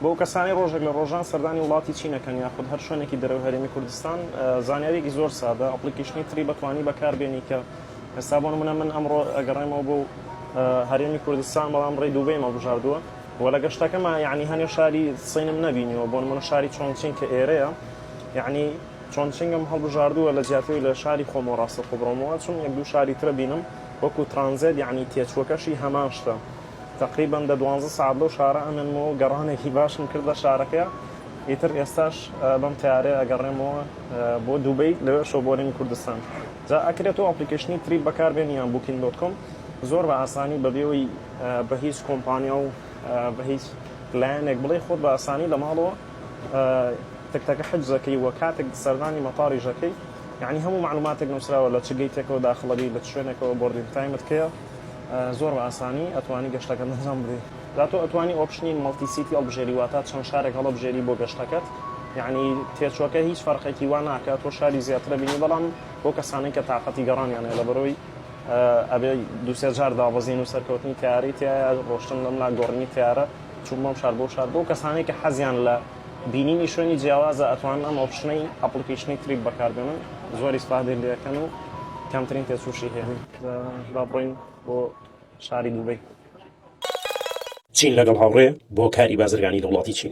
بۆ کەسانی ڕۆژێک لە ڕۆژان سەردانی وڵاتی چین ئەکەن یاخود هەر شوێنێکی دەرەوەی هەرێمی کوردستان زانیاریەکی زۆر سادە ئەپڵیکیشنی تری بەتوانی بەکار بێنی کە ئێستا بۆ نمونە من ئەمڕۆ ئەگەڕێمەوە بۆ هەرێمی کوردستان بەڵام ڕێی دووبەی مەڵبژاردووە و لە گەشتەکەمە یعنی هەنێ شاری سینم نبینیەوە بۆ نمونە شاری چۆنچین کە ئێرەیە یعنی چۆنچنگم هەڵبژاردووە لە جیاتی لە شاری خۆمەوە ڕاستە خۆبڕۆمەوە چون یەک دوو شاری ترە بینم وەکو ترانزێت یعنی تێچوەکەشی هەمان شتە تەقریبەن دە دوانزە سەعات لەو شارە ئەمێنم و گەڕانێکی باشم کردە شارەکە، ئیتر ئێستاش بەم تەیارەیە ئەگەڕێمەوە بۆ دوبەی لەوێشەوە بۆرینی کوردستان. جا ئەکرێ تۆ ئەپلیکەیشنی تریپ بەکار بێنی یان بوکینگ دۆت کۆم زۆر بە ئاسانی بە بێ ئەوەی بە هیچ کۆمپانیا و بە هیچ لایەنێک بڵێی خۆت بە ئاسانی لە ماڵەوە تکتەکە حجز ئەکەی و کاتێک سەردانی مەتاڕیش ئەکەی یانی هەموو مەعلوماتێک نوسراوە لە چ گەیتێکەوە داخڵ ئەبی لە چ شوێنێکەوە بۆردینگ تایمت کەیە زۆر بە ئاسانی ئەتوانی گەشتەکەت ئەنجام بدەی جا تۆ ئەتوانی ئۆپشنی مەڵتی سیتی هەڵبژێری واتا چەند شارێک هەڵەبژێری بۆ گەشتەکەت یعنی تێچوەکە هیچ فەرقێکی وا ناکات تۆ شاری زیاترە بینی بەڵام بۆ کەسانەی کە تااقەتی گەڕانیان هەیە لەبەرەوەی ئەبێ دووسێ جار دابەزین و سەرکەوتنی تەیارەی تایە ڕۆشتن لەم لا گۆڕینی تەیارە چوون بەم شار بۆ شار بۆ کەسانەی کە حەزیان لە بینینی شوێنی جیاوازە ئەتوانن ئەم ئۆپشنەی ئەپڵیکەیشنی تریپ بەکاربێنن زۆر ئیسفادەی لێکەن و کەمترین تێچووشی هەیە با بڕۆین بۆ شاری دوبەی. چین لەگەڵ هاوڕێ بۆ کاری بازرگانی دەوڵەتی چین.